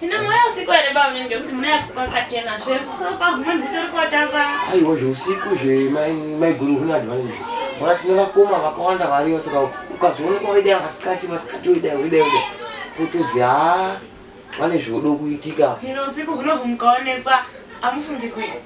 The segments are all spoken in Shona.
Hino mweya usiku here baba nini ngekuti mune apo kwakachena zve kusofa munhu utori kotamba. Aiwa zveusiku zve maiguru huna advantage. Mwana tine vakoma vakawanda variyo saka ukazooneka waidai vasikati vasikati waidai waidai waidai kutozi haa vane zvodo kuitika. Hino usiku hunohu mukaonekwa amufungi kuita.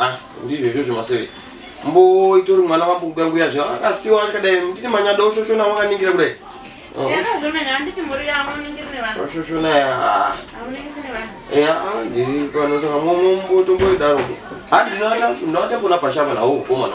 ah, ndizvo izvozvo maseve mbo itori mwana vambukuka nguya zva akasiwa akadai ndine manyada oshoshona wakaningira kudai oh, oshoshona ah. ya ah, ndiri pano saka mombo tomboidaro handinata ndinata pona pashava nawo ukomana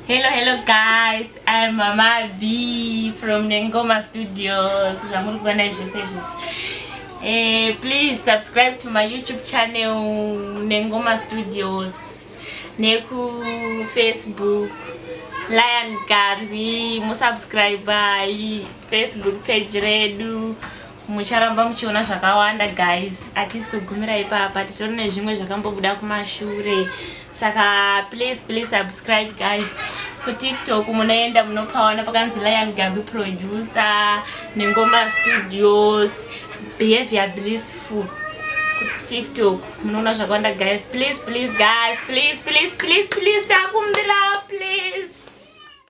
Hello, hello guys, I am Mama B from Nengoma Studios. Zvamuri kuona zvese izvozvi. Eh, please subscribe to my YouTube channel Nengoma Studios neku Facebook Lion Garwi, musubscribe Facebook page redu. mucharamba muchiona zvakawanda guys atisi kugumira ipapa titori nezvimwe zvakambobuda kumashure saka please please subscribe guys kutiktok munoenda munopawana pakanzi lion gabi producer nengoma studios behavior blissful kutiktok munoona zvakawanda guys please please guys please please please please takumbira please